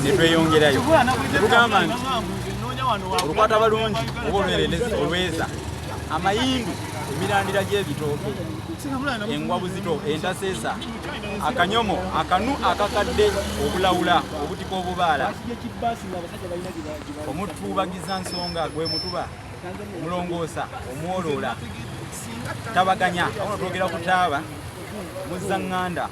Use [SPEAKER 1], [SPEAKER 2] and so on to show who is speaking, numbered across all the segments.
[SPEAKER 1] netweyongerayo tugamba nti olukwata balungi oba olwerendezi olweza amayindu emirandira gy'ebitooke engwa buzito entaseesa akanyomo akanu akakadde obulawula obutika obubaala omutubagiza nsonga gwe mutuba omulongoosa omwoloola tabaganya aona twogera ku taaba muzza ŋŋanda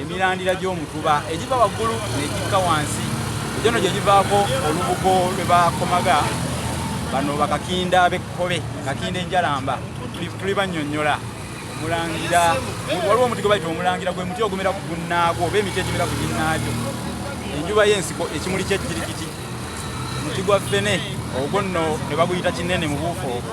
[SPEAKER 1] emirandira gy'omutuba egiva waggulu negikka wansi egyono gye givaako olubugo lwe bakomaga bano bakakinda abekkobe kakinda enjalamba tuli bannyonnyola omulangira waliwo omuti gwe bayita omulangira gwe muti ogumera ku gunnaagwo oba emiti egimera ku ginnaagyo enjuba y'ensiko ekimuli ky'ejjirikiti omuti gwa ffene ogwo nno ne baguyita kinene mu buufu obwo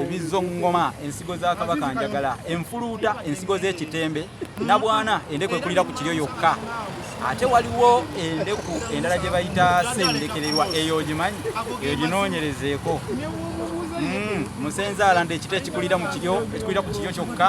[SPEAKER 1] ebizoŋŋoma ensigo za kabaka njagala enfuluuta ensigo z'ekitembe nabwana endeku ekulira ku kiryo yokka ate waliwo endeku endala gye bayita sendekererwa eyo ogimanyi eyo ginoonyerezeeko hmm, musenze alanda ekita ekikulira mu kiryo ekikulira ku kiryo kyokka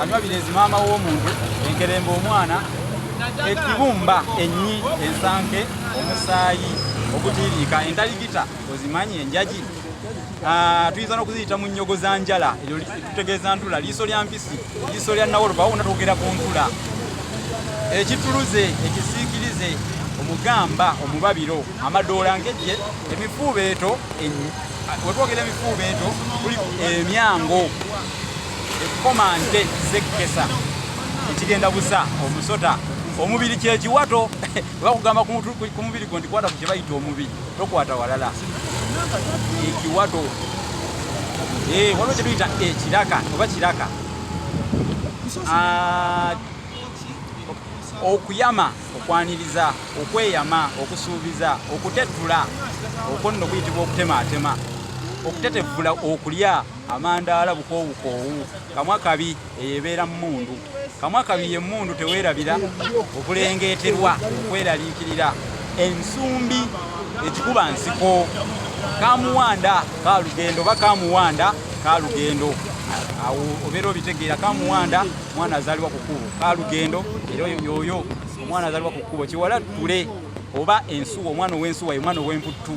[SPEAKER 1] Anywa birezi maama w'omuntu enkerembe omwana ekibumba ennyi ensanke omusaayi ogutiiriika endaligita ozimanyi enjaji ah, tuyinza n'okuziyita mu nnyogo za njala eryo tutegeeza ntula liiso lya mpisi liiso lya nawoloba wona twogera ku ntula ekituluze ekisiikirize omugamba omubabiro amadoola ngejje emifuubeeto wetwogera emifuubeeto kuli emyango ekkomante zekkesa ekigenda busa omusota omubiri kyekiwato bakugamba ku mubiri gwo ndikwata ku kyebayita omubiri tokwata walala ekiwato eh, waliwo kyetuyita ekiraka oba kiraka ah, okuyama okwaniriza okweyama okusuubiza okutettula okwo nno kuyitibwa okutemaatema okutetevvula okulya Amandaala bukoowukoowu, kamwa kabi, eyo ebeera mmundu. Kamwa kabi ye mmundu teweerabira, okulengeeterwa, okweraliikirira. Ensumbi ekikuba nsiko. Kamuwanda kalugendo oba kamuwanda kalugendo awo obeera obitegeera kamuwanda mwana azaalibwa ku kkubo kalugendo era yoyo omwana azaalibwa ku kkubo kiwala ttule oba ensuwa omwana ow'ensuwa ye mwana ow'emputtu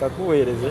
[SPEAKER 1] kakuweereze